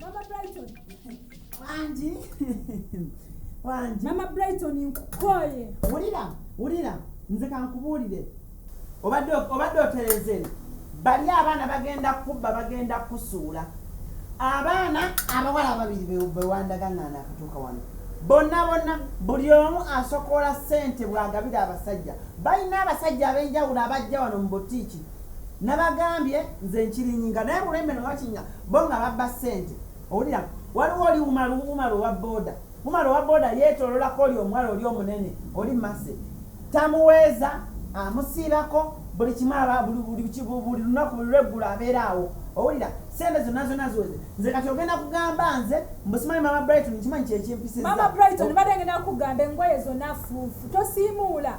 Mama Brighton. Wangi. Wangi. Mama Brighton nkukoye. Wulira, wulira. Nze kankubuulire. Obadde obadde otereze. Bali abaana bagenda kubba bagenda kusuula. Abaana abawala babiri bewandaga nga nakatuuka wano. bonna bonna buli omu asokoola ssente bw'agabira abasajja balina abasajja ab'enjawulo abajja wano mu butiiki nabagambye nze nkirinyinga naye mulembe nobakinya bo nga babba ssente owulira waliwo oli umala umala owa boda umala owa boda yetololako oli omuwala oli omunene oli mase tamuweeza amusiibako buli kimu aba buli lunaku buli lweggulu abeera awo owulira sente zonna zonna ziweze nze kati ogenda kugamba nze mbusimanyi mama brighton nkimanyi kyekimpisiza mama brighton bade ngenda kugamba engoye zonna fuufu tosiimuula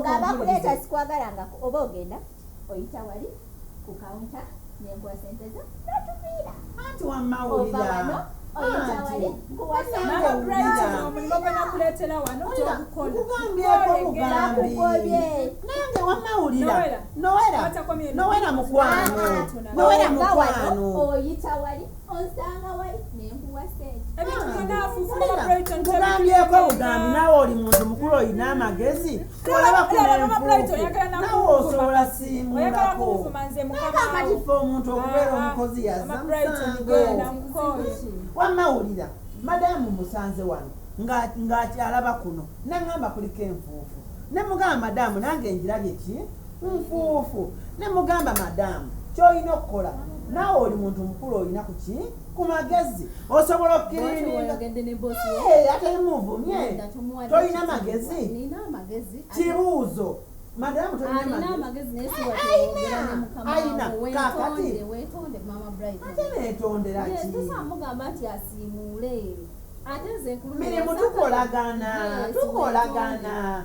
ngabakuleeta sikwagalangako oba ogenda oyita wali ku kawunta nenkuwa sente zo notuviira ova wano nowera mukwano oyita wali nkugambyeko bugambi nawe oli muntu mukulu olina amagezi olabakunenfunawe osobola simuakoakatifa omuntu okubeera omukozi yazamawulira madamu musanze wano ng'akyalaba kuno nangamba kuliko enfuufu nemugamba madamu nange njirabye ki nfuufu ne mugamba madaamu kyolina okukola naawe oli muntu mukulu olina kuki ku magezi osobola okukiriatayimuvumye tolina magezi kibuuzo madamu tolinaayina kakati ate netonderaki mirimu tukolagana tukolagana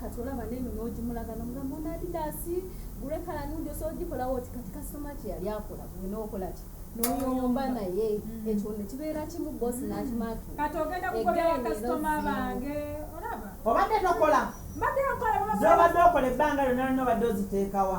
kati olaba neno n'ogimulaga n'omugamba ono adidasi gure kala nundi osobola ogikolawo oti kati kasitoma kye yali akola gwe n'okola ki noyomba naye mm. ekyo ne kibeera kimu bosi mm. nakimaaki kati ogenda kukolera kasitoma bange olaba obadde nokola mbadde nokola zobadde okola ebbanga lyonna lonna obadde oziteekawa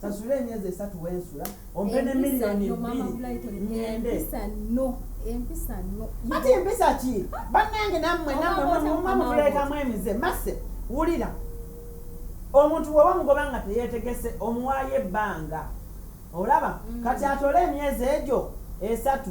sasula emyezi esatu wensula ompe ne miliyoni bbiri ngende ati empisa ki bannange nammwe nammwemumamubulekamu emize mase wulira omuntu waba mugoba nga teyetegese omuwaayo ebbanga olaba mm. kati atole emyezi egyo esatu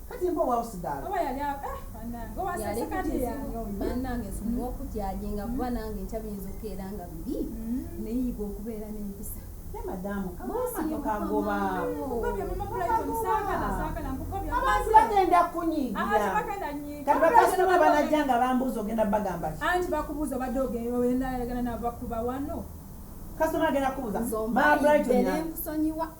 kati mpa owausigaala oba yali awo eh banange oba sasa kati yange oyo banange sumuwa okukyajinga kuba nange nkya biyinza okukeera nga bibi mm-hmm. neyiga okubeera n'empisa bagenda kunyigirakasitoma banajja nga bambuuza ogenda bagamba anti bakubuuza obadde ogendaagana nabakuba wano kasitoma agenda kubuuza mabright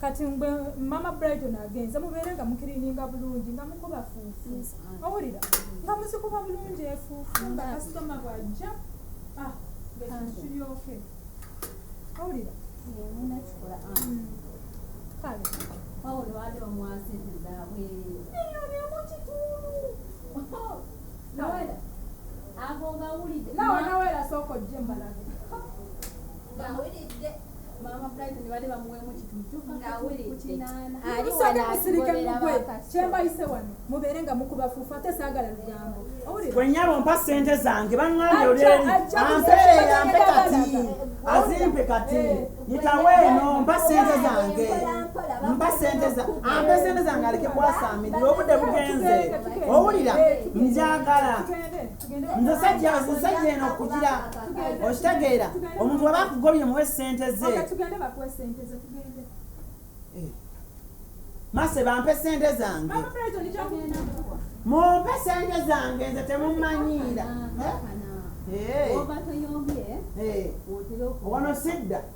kati ngwe mama brighton agenze mubeere nga mukirininga bulungi nga mukuba fuufu owulira nga muzikuba bulungi efuufu nga kasitoma bwajja ah, ngekiryoke owulira nawera sooka ojje mbalabe musooke musirike mugwe kyembayise wano mubeere nga mukuba fuufu ate saagala lugambo wenyabo mpa sente zange baŋŋambye olyeri ampeeyampe kati azimpe kati yitawo eno mpa sente zange mpa sente ampe sente zange aleke kwasaamirira obudde bugenze owulira njagala nze sajja nze sajja eno okugira okitegeera omuntu waba akugobye muwe sente ze eh. mase bampe sente zange mumpe sente zange nze temumanyiira eh? Eh. wano sidda